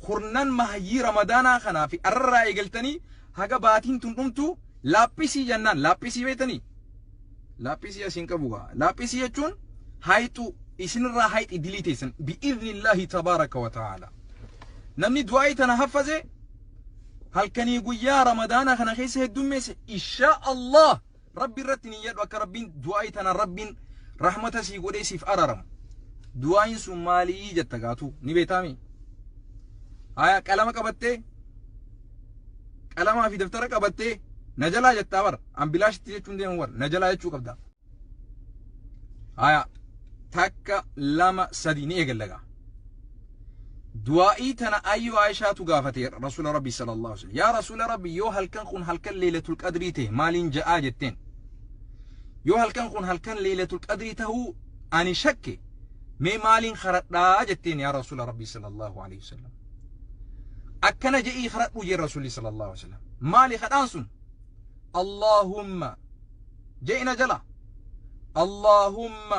kurnan mahayyii ramadaanaa kanaa fi arrarraa eegaltanii haga baatiin tun dhumtu laaphisii jennaan laaphisii beektanii laaphisii asiin qabu gaa laaphisii jechuun haayxuu isinirraa haayxii dilii teessan bi'iznillaahi tabaaraka wa ta'aala namni du'aa'ii tana haffaze halkanii guyyaa ramadaanaa kana keessa heddummeesse inshaa Allah Rabbi irratti niyyadhu akka Rabbiin du'aayi tana Rabbiin rahmata sii godhee siif araramu. Du'aayin sun maalii jetta gaatu ni beetaami. Haya qalama qabattee qalamaa fi daftara qabattee na jalaa jettaa bar an bilaashitti jechuun deemu bar na jalaa jechuu qabda. Haya takka lama sadi ni eegallagaa. du'aa'ii tana ayyuu Aishaatu gaafate Rasuula Rabbi sallallahu alaihi wasallam yaa Rasuula Rabbi yoo halkan kun halkan leelatul qadrii ta'e maaliin ja'aa jetteen yoo halkan kun halkan leelatul qadrii ta'uu ani shakke mee maaliin karadhaa jetteen yaa Rasuula Rabbi sallallahu alaihi wasallam akkana je'ii karadhu jee Rasuulli sallallahu alaihi wasallam maali kadhaan sun Allahumma je'ina jala Allahumma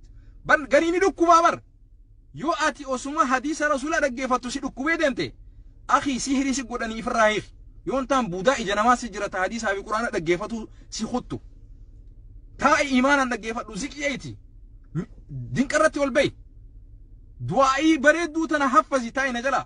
Bar garii ni dhukkubaa bar. Yoo ati osuma hadiisa rasuulaa dhaggeeffattu si dhukkubee deemte akhi sihrii si godhanii ifirraa hiiki. Yoon taan buudaa ija namaa si jirata hadiisaa fi quraana dhaggeeffatu si kuttu. Taa'i imaanaan dhaggeeffadhu ziqiyeeti. Dinqarratti ol ba'i. Du'aa'ii bareedduu tana haffazi taa'i na jalaa.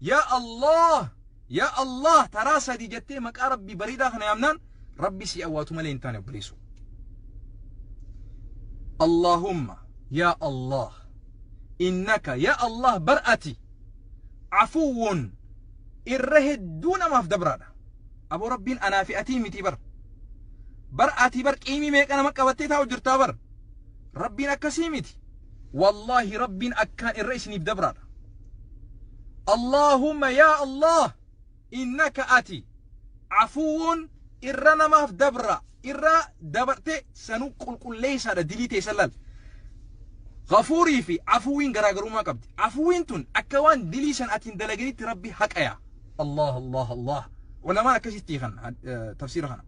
Yaa Allah! Yaa Allah! Taraa sadii jettee maqaa Rabbii bareedaa kana yaamnaan Rabbi si awwaatu malee hin taane obboleessoo. Allahumma yaa Allah innaka yaa Allah bar ati afuwwun irra hedduu namaaf dabraadha. Aboo Rabbiin anaa fi atii miti bar. Bar ati bar qiimii meeqa nama qabattee taa'u jirtaa bar. Rabbiin akkasii miti. wallahi rabbiin akkaan irra isiniif dabraadha Allahumma yaa Allah innaka ati afuwuun irra namaaf dabra irra dabarte sanuu qulqulleessaadha dilii ta'e sallal gafuurii fi afuwiin garaagarummaa qabdi afuwiin tun akka waan dilii san atiin dalaganitti rabbi haqaya Allah Allah Allah ulamaan akkasitti kan tafsiira kana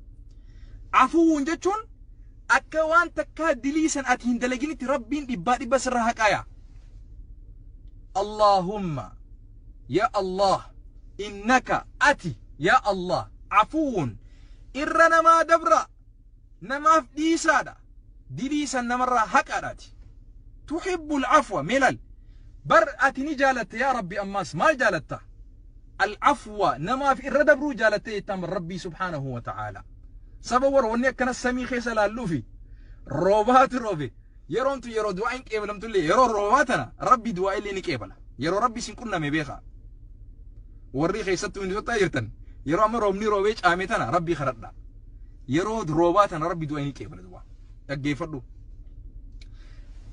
afuwuun jechuun Akka waan takkaa dilii san ati hin dalaginitti Rabbiin dhibbaa dhibba sirra haqaya. Allaahumma yaa Allah innaka ati yaa Allah afuwwun irra namaa dabra namaaf dhiisaadha dilii san namarraa haqadhaati. Tuhibbul afwa melal bar ati ni jaalatta yaa Rabbi ammaas maal jaalatta? Al-afwa namaaf irra dabruu jaalattee jettaan bar Rabbii subhaanahu wa ta'aalaa. Saba warra wanni akkana samii keessa laalluufi roobaatu roobe yeroon tun yeroo du'aa hin qeebalamtullee yeroo roobaa tana Rabbi du'aa illee ni qeebala. Yeroo Rabbi isin qunname beekaa. Warri keessattuu inni sottaa jirtan yeroo amma roobni roobee caame tana Rabbi kadhadha. Yeroo roobaa tana Rabbi du'aa ni qeebala du'aa. Dhaggeeffadhu.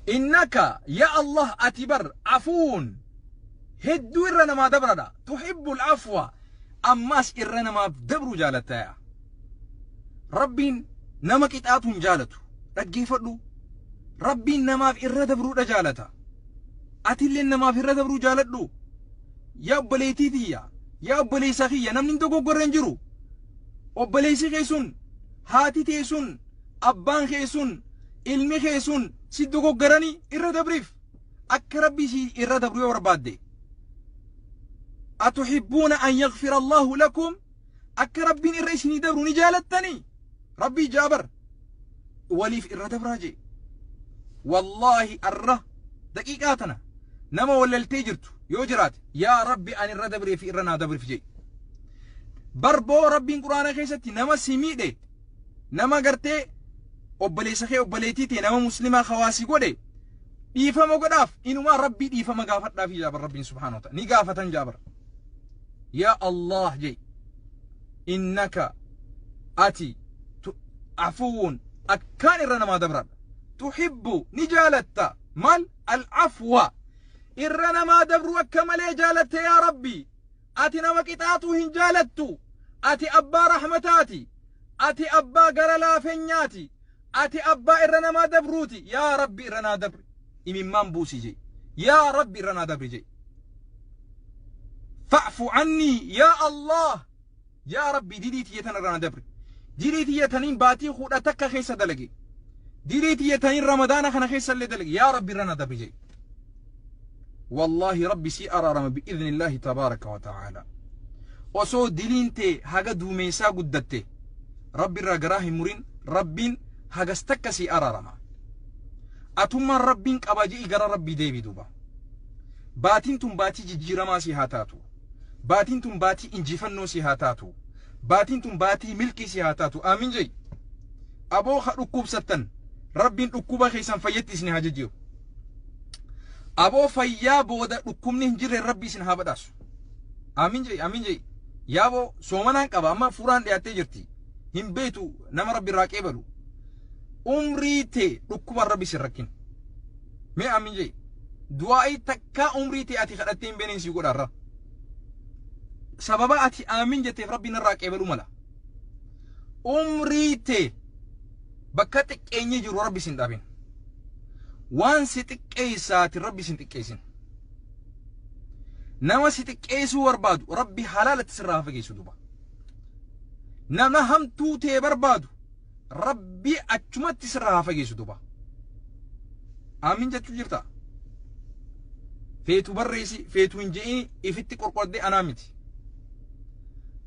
Innaka yaa Allah ati bar afuun hedduu irra namaa dabradha tuhibbul afwa ammaas irra namaaf dabruu jaalattaya rabbiin nama qixaatu hin jaalatu dhaggeeffadhu rabbiin namaaf irra dabruudha jaalata atillee namaaf irra dabruu jaaladhu yaa obboleettii tiyya yaa obboleessa kiyya namni hin dogoggorre hin jiru obboleessi kee sun haati tee sun abbaan kee sun ilmi kee sun si dogoggoranii irra dabriif akka rabbi si irra dabru yoo barbaadde atuhibbuuna an yaghfira allaahu lakum akka rabbiin irra isinii dabru ni jaalattanii rabbii jaabar waliif irra dabraa jee wallaahi arra daqiiqaa tana nama wallaltee jirtu yoo jiraate yaa rabbi an irra dabree fi irra naa dabrif jee barboo rabbiin quraana keessatti nama si miidhe Nama gartee obboleessa kee obboleettii tee nama muslimaa kawaa si godhe dhiifama godhaaf inumaa rabbii dhiifama gaafadhaaf jaabar rabbiin subhaana wa ta'ala ni gaafatan jaabar yaa allah jee innaka ati tu- afuwuun akkaan irra namaa dabradha tuhibbu ni jaalatta maal alcafwa irra namaa dabru akka malee jaalatte yaa rabbii Ati nama qixaaxu hin jaalattu. Ati abbaa rahmataati. Ati abbaa gara laafenyaati. Ati abbaa irra namaa dabruuti. Yaa Rabbi irra naa dabri. Imimmaan buusi je'i. Yaa Rabbi irra naa dabri je'i. Fa'fu cannii yaa Allah. Yaa Rabbii dilii tiyya tana irraa na dabri. Dilii tiyya taniin baatii kudha takka keessa dalage. Dilii tiyya taniin ramadaana kana keessa illee dalage. Yaa Rabbi irra na dabri jedhi. Wallaahi Rabbi sii araarama bi'iznillaahi tabaaraka wa ta'aala. Osoo diliin tee haga duumeessaa guddatte Rabbi irraa garaa hin murin Rabbiin hagas takka sii araarama. Atummaan Rabbiin qaba je'i gara Rabbii deebi duuba. Baatiin tun baatii jijjiiramaa sii haa taatu. Baatiin tun baatii injifannoo si haa taatu. Baatiin tun baatii milkii si haa taatu. Aamin jai. Aboo ha dhukkubsattan rabbiin dhukkuba keessan fayyatti isin haa jijjiiru. Aboo fayyaa booda dhukkubni hin jirre rabbi isin haa badhaasu. Aamin jai. Aamin jai. Yaaboo soomanaan qaba amma fuuraan dhiyaattee jirti. Hin beetu nama rabbi irraa qeebalu. Umrii tee dhukkubaan rabbi isin rakkin. Mee aamin jai. Du'aa'ii takka. Ka umrii tee ati kadhattee hin beenen sii godha irra. Sababa ati aamin jetteef rabbi narraa qeebaluu mala. Umrii tee bakka xiqqeenyi jiru rabbi sin dhabin. Waan si xiqqeessaatiin rabbi sin xiqqeessin. Nama si xiqqeessuu barbaadu rabbi halaalatti sirraa fageessu duba. Nama hamtuu tee barbaadu rabbii achumatti sirraa haa fageessu duba aamin jechuu jirta feetu barreessi feetu hin je'ini ifitti qorqordee anaa miti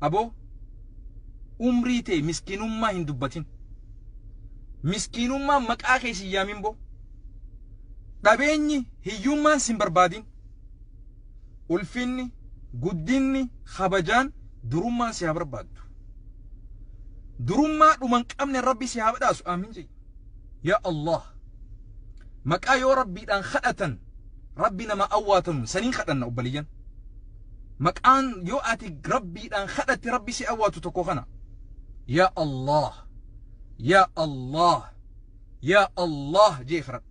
aboo umrii tee miskiinummaa hin dubbatin miskiinummaa maqaa kee sin yaamin boo dhabeenyi hiyyummaan sin barbaadin ulfinni, guddinni, kabajaan, durummaan si haa barbaaddu. Durummaa dhuman qabne Rabbi si haa badhaasu. Aamin jedhi. Yaa Allah. Maqaa yoo Rabbiidhaan kadhatan Rabbi nama awwaatanuun saniin kadhanna obbaliyyan. Maqaan yoo ati Rabbiidhaan kadhatte Rabbi si awwaatu tokko kana. Yaa Allah. Yaa Allah. Yaa Allah jee kadhadhu.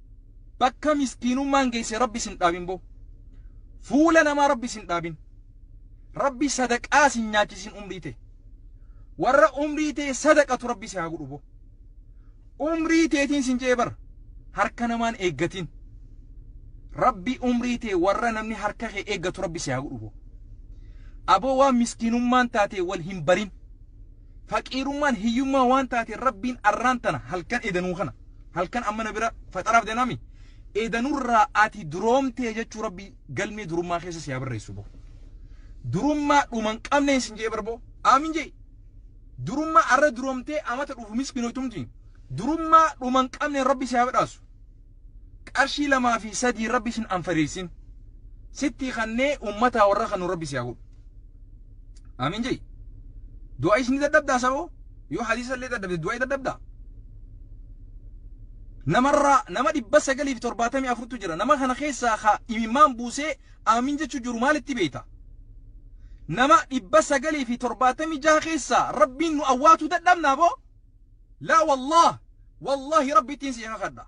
Bakka miskiinummaan geesse Rabbi isin dhaabin boo. Fuula namaa Rabbi isin dhaabin. Rabbi sadaqaa isin nyaachisin umrii tee. Warra umrii tee sadaqatu Rabbi si haa godhu boo. Umrii teetiin sin je'ee bar harka namaan eeggatiin. Rabbi umrii tee warra namni harka kee eeggatu Rabbi si haa godhu boo. Aboo waan miskiinummaan taate wal hin barin. Faqiirummaan hiyyummaa waan taateen Rabbiin arraan tana halkan edanuu kana halkan amma na bira faxaraaf deemami edanurraa ati duroomtee jechuu Rabbii galmee durummaa keessa si haa barreessu boo. Durummaa dhuman qabneen sin jee barboo aamin jee. Durummaa arra duroomtee amata dhufu miskinootumti. Durummaa dhuman qabneen Rabbi si haa badhaasu. Qarshii lamaa fi sadii rabbi sin anfariirsin sittii kannee ummataa warra kanu rabbi siyaa godhu amiin jai du'a isni dadhabdaa saboo yoo hadiisa illee dadhabde du'a dadhabdaa namarraa nama dhibba sagalii fi torbaatamii afurtu jira nama kana keessaa ka imimmaan buusee amiin jechuu jiru maalitti beeyta nama dhibba sagalii fi torbaatamii jaha keessaa rabbiin nu awwaatu dadhabnaa boo Laa wallaah wallaahi rabbittiin sii kakadha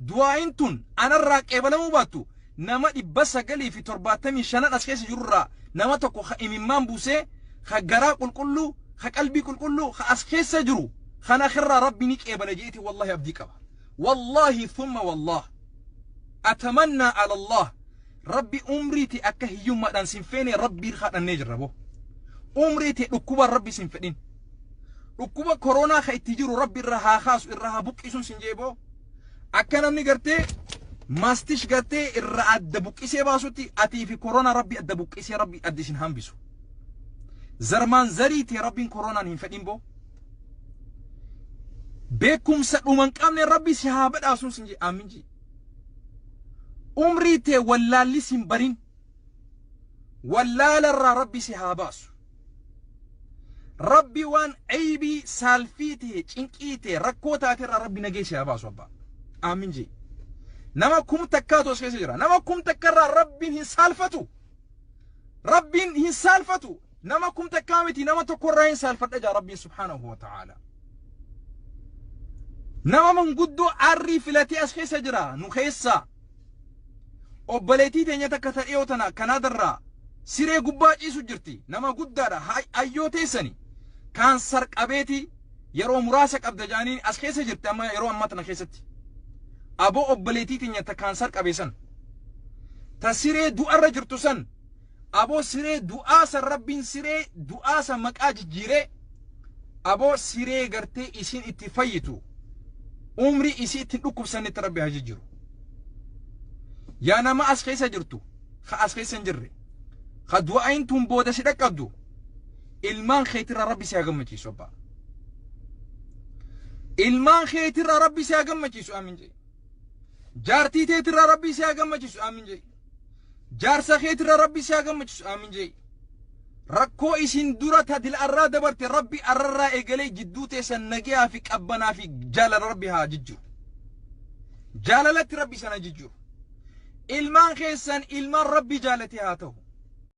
du'aa'iin tun anarraa qeebalamuu baattu nama dhibba sagalii fi torbaatamii shanan as keessa jirurraa nama tokko ka imimmaan buusee ka garaa qulqulluu ka qalbii qulqulluu ka as keessa jiru kan akirraa rabbi ni qeebala jeeti wallaahi abdii qaba wallaahi thumma wallaah atamannaa ala allah rabbi umriiti akka hiyyummaadhaan sin feene rabbii kadhannee jirra boo umriiti dhukkubaan rabbi sin fedhin Dhukkuba koroonaa ka itti jiru rabbi irra haa kaasu irra haa buqqisuun sin jee boo. Akka namni gartee maastish gartee irra adda buqqisee baasutti atii fi koroonaa rabbi adda buqqisee rabbi adda isin hambisu. Zarmaan zarii tee rabbiin koroonaan hin fedhin boo. Beekumsa dhuman qabne rabbi si haa badhaasuun sin jee aamin jee. Umrii tee wallaalli sin barin. Wallaalarraa rabbi si haa baasu. Rabbi waan aybii saalfii ta'e cinqii ta'e rakkoo taate irraa rabbi nagee si haa baasu abbaa. Aamin jee. Nama kum takkaatu as keessa jira. Nama kum takka irraa rabbiin hin saalfatu. Rabbiin hin saalfatu. Nama kum takkaa miti nama tokko irraa hin saalfadha jaa rabbiin subhaanahu wa ta'aala. Nama manguddoo arrii filatee as keessa jira nu keessaa. Obboleettii teenya takka ta dhiyoo tana Kanaadarraa siree gubbaa ciisu jirti. Nama guddaadha. Hayyoo teessani kaansar qabeeti yeroo muraasa qabda jaaniin as keessa jirti amma yeroo ammaa tana keessatti. Aboo obboleettii teenya ta kaansar qabeessan ta siree du'arra jirtu san Aboo siree du'aa san rabbiin siree du'aa san maqaa jijjiiree aboo siree gartee isiin itti fayyitu umrii isii ittiin dhukkubsannetti rabbi haa jijjiiru. Yaa nama as keessa jirtu ka as keessa hin jirre ka du'aayin tun booda si dhaqqabdu ilmaan keetirra rabbi si haa gammachiisu abbaa. Ilmaan keetirra rabbi si haa gammachiisu aamin jee. Jaartii teetirra rabbi si haa gammachiisu aamin jee. Jaarsa keetirra rabbi si haa gammachiisu aamin je'i. Rakkoo isin dura tadil arraa dabarte rabbi arrarraa eegalee jidduu teessan nagaa fi qabbanaa fi jaalala rabbi haa jijjiru. Jaalalatti rabbi sana jijjiru. Ilmaan keessan ilmaan rabbi jaalate haa ta'u.